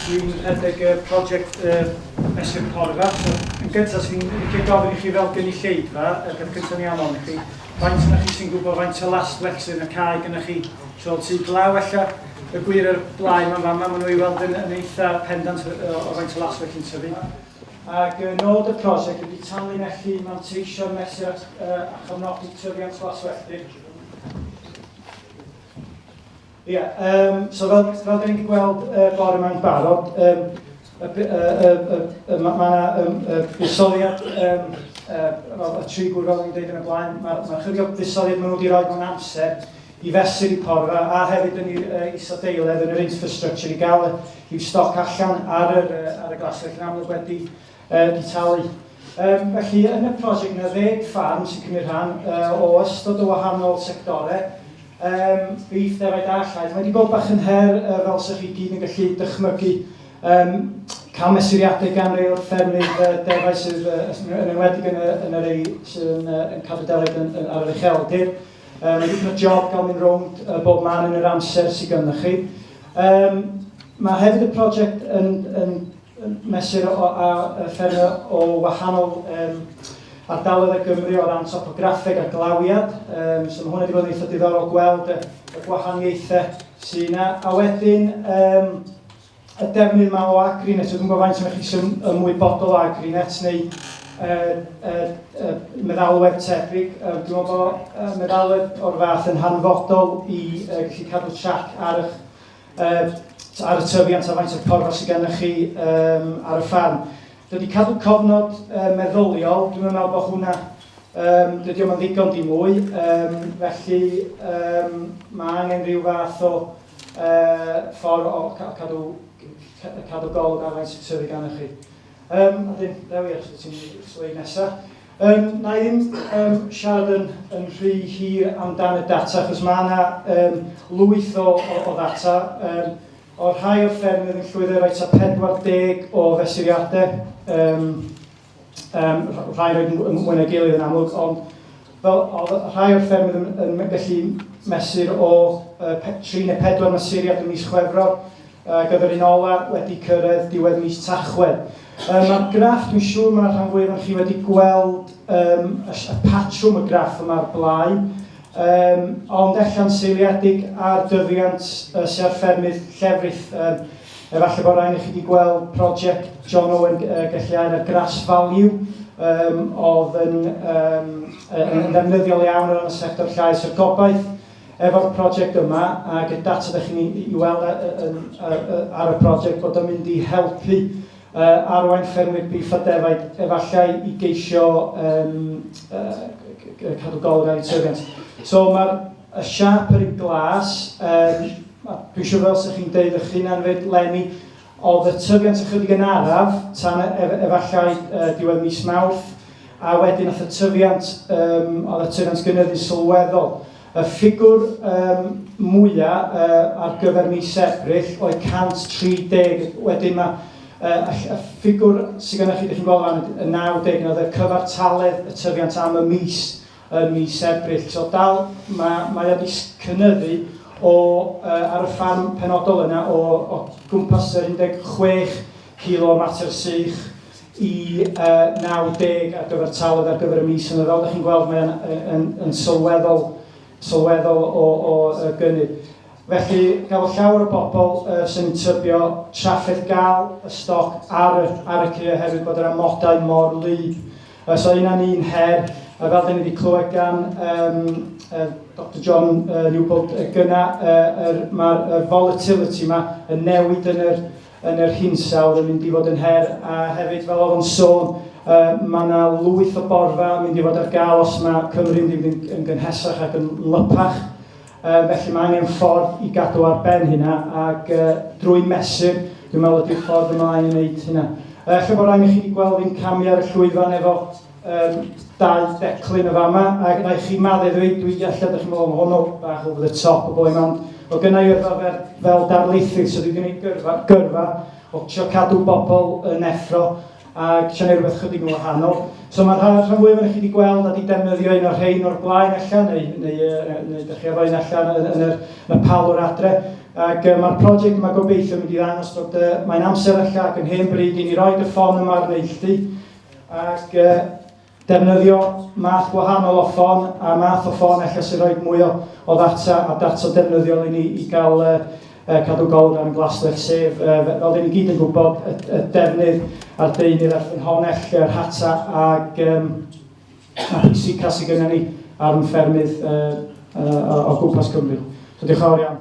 Dwi'n rhedeg y prosiect uh, Mesur Porfa. So, yn gyntaf, sy'n licio gofyn i chi fel gynulleidfa, y peth cyntaf ni anfon i chi, faint yna chi sy'n gwybod faint o last flexing y cae gyda chi tro tu glaw allan. Y gwir ar blaen mae'n fama, maen nhw i weld yn, yn eitha pendant o, o faint o last flexing tyfu. Ac y nod y prosiect ydy tanlinellu, manteisio, mesur at, uh, a chofnodi tyfiant glaswelltir. Ie, yeah, um, so fel, fel da ni wedi gweld uh, bore yma'n barod, um, y, y, y, y, y, mae yna um, y busoliad um, uh, y tri gwrdd fel yn dweud yn y blaen, mae'r ma chydig o fusoliad maen nhw wedi rhoi mewn amser i fesur i porfa a hefyd yn i'r uh, isadeiledd yn yr infrastructure i gael y Bydd stoc allan ar yr, ar y glaswellt yn amlwg wedi uh, di talu. Um, felly, yn y prosiect yna, ddeg ffarm sy'n cymryd rhan uh, o ystod o wahanol sectorau, um, beef, defaid a llaeth. Mae wedi bod bach yn her uh, fel sy'ch chi gyd yn gallu dychmygu um, cael mesuriadau gan rei o'r ffermydd uh, defau sydd uh, yn enwedig yn, yn yr ei sy'n uh, yn cadw deled yn, yn, ar yr ucheldir. Um, Rwy'n cael job gael mynd rownd uh, bob man yn yr amser sydd ganddo chi. Um, mae hefyd y prosiect yn, yn, yn mesur o, a, a ffermio o wahanol um, ardaloedd y Gymru o ran topograffeg a glawiad. Um, so mae hwnna wedi bod yn eitha diddorol gweld y, y gwahaniaethau sy'n yna. A wedyn, um, y defnydd yma o Agrinet, dwi'n gwybod faint o'n chi sy'n ymwybodol o Agrinet neu uh, uh, uh, meddalwedd tebyg. Uh, dwi'n meddwl bod uh, meddalwedd o'r fath yn hanfodol i uh, gallu cadw trac ar, eich, uh, ar y tyfiant a faint o'r porfa sydd gennych chi um, ar y ffarm. Dydy cadw cofnod uh, meddyliol, dwi'n meddwl bod hwnna Um, dydy o'n ddigon di mwy, um, felly um, mae angen rhyw fath o ffordd o cadw, cadw golwg ar faint sy'n tyfu gan y chi. Um, a dim, Dewi, os ti'n sleid nesaf. Um, na i ddim um, siarad yn, yn rhy hir amdan y data, achos mae yna um, lwyth o, o, o ddata. Um, o'r rhai o'r ffermydd yn llwyddo i roi 40 o fesuriadau um, Um, rhai yn oed yn mwy na gilydd yn amlwg, ond fel, oedd rhai o'r ffermydd yn, yn gallu mesur o uh, 3 neu 4 mesuriad yn mis Chwefror, uh, gyda'r un ola wedi cyrraedd diwedd mis Tachwedd. Um, Mae'r graff, dwi'n siŵr mae'r rhan fwyaf yn chi wedi gweld um, y, y patrwm y graff yma'r blaen, um, ond ella'n seiliedig ar dyfiant uh, sy'n ar ffermydd llefrith um, Efallai bod rhain i chi wedi gweld prosiect John Owen Gelliau'r ar Grass Value, um, oedd yn, um, yn, yn ddefnyddiol iawn o ran y sector llais a'r gobaith efo'r prosiect yma ac y data ydych chi'n ei weld ar y prosiect bod yn mynd i helpu uh, arwain ffermwyr bif a defaid efallai i geisio um, uh, cadw golwg ar eu tyfiant. So mae'r Y siâp yn glas, yym, dwi'n siŵr fel sy'ch chi'n deud eich hunan fyd, Lenny, oedd y tyfiant ychydig yn araf tan e, ef, efallai uh, diwedd mis Mawrth, a wedyn oedd y tyfiant, um, oedd y tyfiant gynyddu sylweddol. Y ffigwr um, mwyaf uh, ar gyfer mis Ebrill oedd 130, wedyn mae uh, y, y ffigwr sydd gennych chi, ydych chi'n gweld fan y 90, oedd y cyfartaledd y tyfiant am y mis Ym mis Ebrill tro dal, mae, mae o wedi cynyddu o, uh, ar y ffarm penodol yna, o, o gwmpas yr 16 kilo mater sych i uh, 90 ar gyfer talwedd ar gyfer y mis yna. Fel ydych chi'n gweld, mae'n yn, yn, yn sylweddol, sylweddol o, o, o gynnydd. Felly, gafodd llawer o bobl uh, sy'n tybio trafferth gael y stoc ar y, ar y cy oherwydd bod yr amodau mor lyd. Os oes yna un her, a fel da ni wedi clywed gan um, uh, Dr John uh, Newbold uh, gyna, uh, er, mae'r er volatility yma yn newid yn yr, yn yr hinsawdd yn mynd i fod yn her, a hefyd fel oedd o'n sôn, uh, mae yna lwyth o borfa yn mynd i fod ar gael os mae Cymru'n mynd yn, yn gynhesach ac yn lypach. Yy felly mae angen ffordd i gadw ar ben hynna ac yy drwy mesur dwi'n meddwl ydy'r ffordd ymlaen i wneud hynna. Yy ella bod rhaid i chi wedi gweld fi'n camu ar y llwyfan efo um, dau declyn y fama ac yna i chi madde ddweud dwi ella ydych chi'n meddwl hwnnw bach over the top o boen ond o gynna i yrfa fel, fel darlithydd so dwi wedi gwneud gyrfa, gyrfa o trio cadw bobl yn effro ac siarad rhywbeth chydig yn wahanol. So mae'r rhan, rhan fwyaf ohonych chi wedi gweld a wedi defnyddio un o'r rhain o'r blaen allan, neu, neu, neu, neu ydych chi efo un allan yn, yn, yr, yn y palwr adre. Ac uh, mae'r prosiect yma gobeithio mynd i ddangos bod uh, mae'n amser allan ac yn hen bryd i ni roi y ffon yma ar neilltu. Ac uh, Defnyddio math gwahanol o ffon a math o ffon ella sy'n rhoi mwy o o ddata a data defnyddiol i ni i gael yy yy cadw golwg ar ein glaswellt sef yy fel dan ni gyd yn gwybod y y defnydd a'r deunydd a'r ffynhonnell yr hata ag yym a'r pwysica sydd gennym ni ar ein ffermydd yy yy o o gwmpas Cymru. So diolch yn fawr iawn.